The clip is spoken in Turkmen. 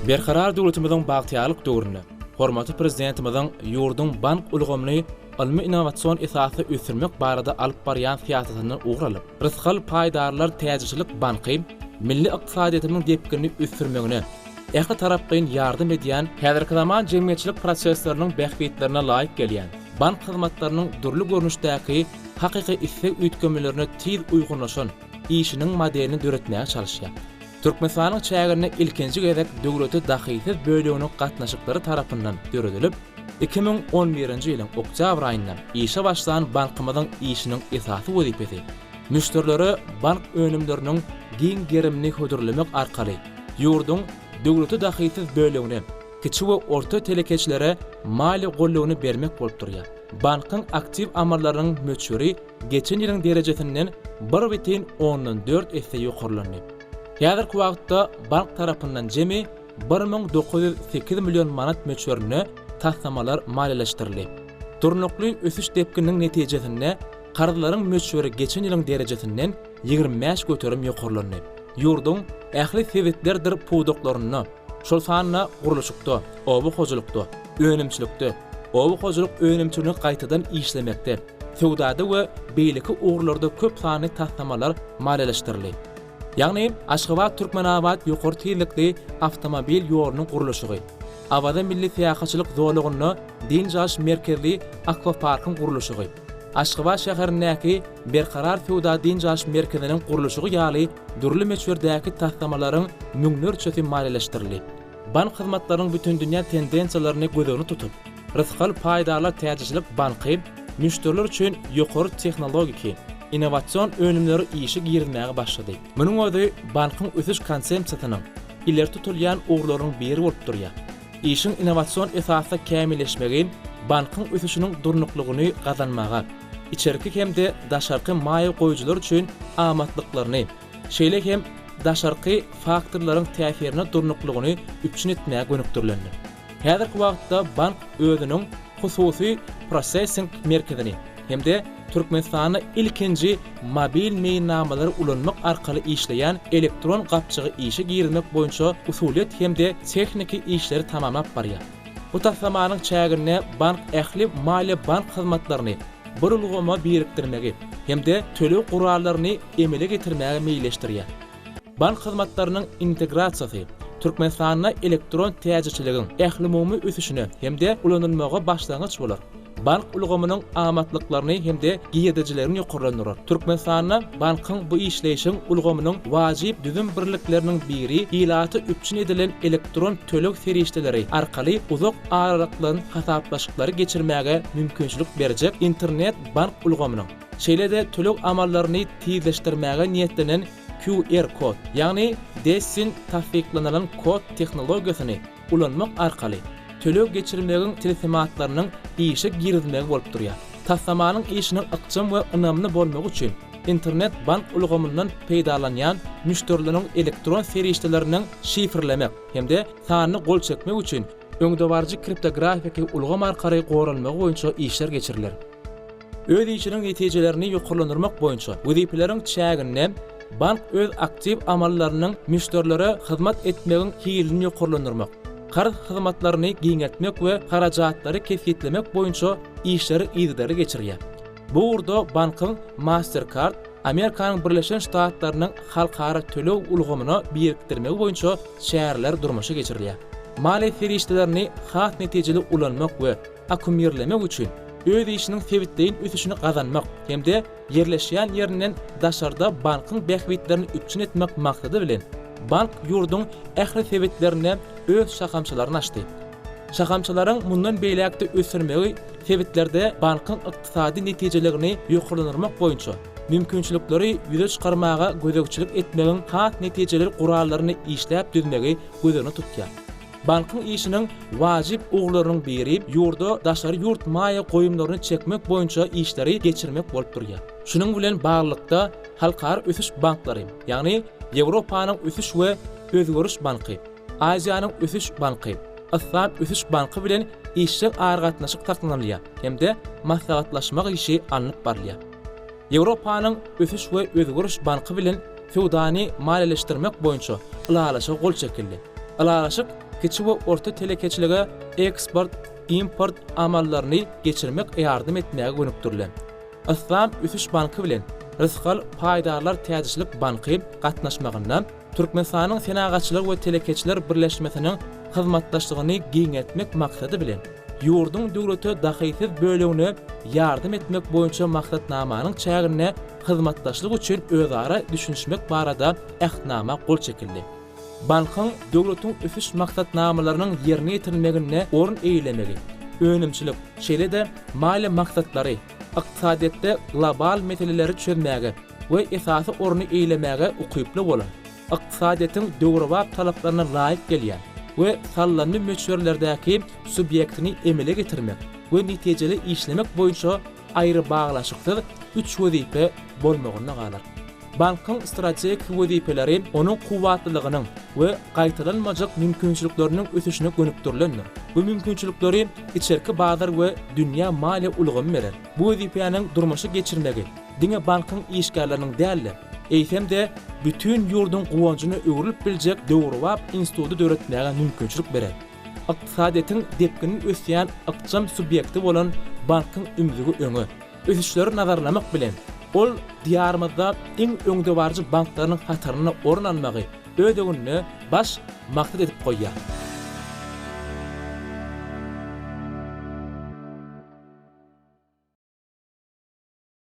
Berkarar döwletimiziň bagtyýarlyk döwründe hormatly Prezidentimiziň ýurduň bank ulgamyny ylmy-innowasion esasda ösdürmek barada alyp barýan syýasatyndan ugur alyp, Rysgal paýdarlar täjirçilik banky milli ykdysadyýetimiziň depginini ösdürmegine, ähli tarapgyn ýardam edýän, häzirki zaman jemgyýetçilik prosesleriniň bähbitlerine laýyk gelýän, bank hyzmatlarynyň dürli görnüşdäki hakyky isleg üýtgemelerine tiz uýgunlaşan işiniň modelini döretmäge çalyşýar. Türkmenistanyň çäginde ilkinji gezek döwlete dahysyz böleginiň gatnaşyklary tarapyndan döredilip, iki müň on birinji ýylyň oktýabr aýynda işe başlan bankymyzyň işiniň esasy wezipesi, Müşderilere bank önümleriniň giň gerimini hödürlemek arkaly ýurduň döwlete dahysyz bölegine, kiçi we orta telekeçilere maliýe goldawyny bermek bolup durýar. Bankyň aktiw amallarynyň möçberi geçen ýylyň derejesinden bir bütin ondan dört esse ýokarlandy. Häzirki wagtda bank tarapyndan jemi bir müň dokuz ýüz sekiz million manat möçberinde taslamalar maliýeleşdirildi. Durnukly ösüş depgininiň netijesinde, Karzlaryň möçberi geçen ýylyň derejesinden ýigrimi bäş göterim ýokarlandy. Ýurduň ähli sebitlerdir pudaklarynda, şol sanda gurluşykda, oba hojalykda, önümçilikde, oba hojalyk önümçiligini gaýtadan işlemekde, söwdada we beýleki ugurlarda köp sanly taslamalar maliýeleşdirildi. Ýagny Aşgabat-Türkmenabat ýokary tizlikli awtomobil ýolunyň gurluşygy, Awaza milli syýahatçylyk zolagynda dynç alyş merkezli akwaparkyň gurluşygy, Aşgabat şäherindäki Berkarar söwda-dynç alyş merkeziniň gurluşygy ýaly dürli möçberdäki taslamalaryň müňlerçesi maliýeleşdirildi. Bank hyzmatlarynyň bütindünýä tendensiýalaryny göz öňüne tutup, Rysgal paýdarlar täjirçilik banky müşderiler üçin ýokary tehnologiki, innowasion önümleri işe girizmäge başlady. Munuň özi bankyň ösüş konsepsiýasynyň ileri tutulýan ugurlarynyň biri bolup durýar. Işiň innowasion esasda kämilleşmegi bankyň ösüşiniň durnuklygyny gazanmaga, içerki hem-de daşarky maýa goýujylar üçin amatlyklaryny, şeýle hem daşarky faktorlaryň täsirine durnuklygyny üpjün etmäge gönükdirilendir. Häzirki wagtda bank özüniň hususy prosessing merkezini hem-de Türkmenistanda ilkinji mobil meýilnamalary ulanmak arkaly işleýän elektron gapjygy işe girizmek boýunça usulyýet hem-de tehniki işleri tamamlap barýar. Bu taslamanyň çäginde bank ähli maliýe-bank hyzmatlaryny bir ulgama birikdirmegi hem-de töleg gurallaryny emele getirmäge meýilleşdirýär. Bank hyzmatlarynyň integrasiýasy Türkmenistanda elektron täjirçiligiň ählumumy ösüşine hem-de ulanylmaga başlangyç bolar, bank ulgamynyň amatlyklaryny hem-de girdejilerini ýokarlandyrar. Türkmenistanda bankyň bu işleýşiň ulgamynyň wajyp düzüm birlikleriniň biri ilaty üpjün edilen elektron töleg serişdeleri arkaly uzak aralykdan hasaplaşyklary geçirmäge mümkinçilik berjek internet-bank ulgamynyň Şeýle-de töleg amallaryny tizleşdirmäge niýetlenen QR-kod, ýagny Dessing tassyklanylan kod tehnologiýasyny ulanmak arkaly töleg geçirmegiň tilsimatlarynyň işe girizilmegi bolup durýar. Taslamanyň işiniň ykjam we ynamly bolmagy üçin Internet bank ulgamyndan peýdalanýan müşderileriň elektron serişdelerini şifrlemek hem-de sanyny gol çekmek üçin öňdebaryjy kriptografiki ulgam arkaly goralmagy boýunça işler geçiriler. Öz işiniň netijelerini ýokarlandyrmak boýunça wezipeleriň çäginde bank öz aktiw amallarynyň müşderilere hyzmat etmegiň hilini ýokarlandyrmak, karz hyzmatlaryny giňeltmek we harajatlary kesgitlemek boýunça işleri yzygiderli geçirýär. Bu ugurda bankyň Mastercard Amerikanyň Birleşen Ştatlarynyň halkara töleg ulgamyna birikdirmegi boýunça çäreler durmuşa geçirilýär. Maliýe serişdelerini has netijeli ulanmak we akkumyrlemek üçin öz işiniň sebitleýin ösüşini gazanmak hem-de ýerleşýän ýerinden daşarda bankyň bähbitlerini üpjün etmek maksady bilen, bank ýurduň ähli sebitlerinde öz şahamçalaryny açdy. Şahamçalaryň mundan beýläk-de ösdürmegi sebitlerde bankyň ykdysady netijeliligini ýokarlandyrmak boýunça mümkinçilikleri ýüze çykarmaga gözegçilik etmegiň has netijeli gurallaryny işläp düzmegi göz öňünde tutýar. Bankyň işiniň wajyp ugurlarynyň biri ýurda daşary ýurt maýa goýumlaryny çekmek boýunça işleri geçirmek bolup durýar. Şunuň bilen baglylykda, Halkara ösüş banklary, ýagny Ýewropanyň ösüş we özgeriş banky, Aziýanyň ösüş banky, Yslam ösüş banky bilen işjeň aragatnaşyk saklanylýar hem-de maslahatlaşmak işi alnyp barylýar. Ýewropanyň Ösüş we Özgeriş Banky bilen söwdany maliýeleşdirmek boýunça ylalaşyga gol çekildi. Ylalaşyk kiçi we orta telekeçilige eksport, import amallaryny geçirmek ýardam etmäge gönükdirilen. Yslam Ösüş Banky bilen Rysgal paýdarlar täjirçilik banky gatnaşmagynda Türkmenistanyň Senagatçylar we telekeçiler birleşmesiniň hyzmatdaşlygyny giňeltmek maksady bilen, ýurduň döwlete dahysyz bölegine ýardam etmek boýunça maksatnamanyň çäginde hyzmatdaşlyk üçin özara düşünişmek barada Ähtnama gol çekildi. Bankyň döwletiň ösüş maksatnamalarynyň ýerine ýetirilmeginde orun eýelemegi, önümçilik, şeýle-de maliýe maksatlary, ykdysadyýetde global meseleleri çözmäge, we esasy orny eýelemäge ukyply bolan, ykdysadyýetiň döwrebap talaplaryna laýyk gelýän we sallandy möçberlerdäki subýektini emele getirmek we netijeli işlemek boýunça aýrybaglaşyksyz üç wezipe bolmagynda galar. Bankyň strategik wezipeleri onuň kuwwatlylygynyň we gaýtalanmajak mümkinçilikleriniň ösüşine gönükdirilendir. Bu mümkinçilikleri içerki bazar we dünýä maliýe ulgamy berer. Bu wezipäniň durmuşa geçirmegi diňe bankyň işgärleriniň däl-de, eýsem-de, bütin ýurduň guwanjyna öwrülip biljek döwrebap instituty döretmäge mümkinçilik berer. Ykdysadyýetiň depginli ösýän ykjam subýekti bolan bankyň ümzügi öňe. Ösüşleri nazarlamak bilen, ol Diýarymyzda iň öňdebaryjy banklarynyň hatarynda orun almagy öz öňünde baş maksat edip goýýar.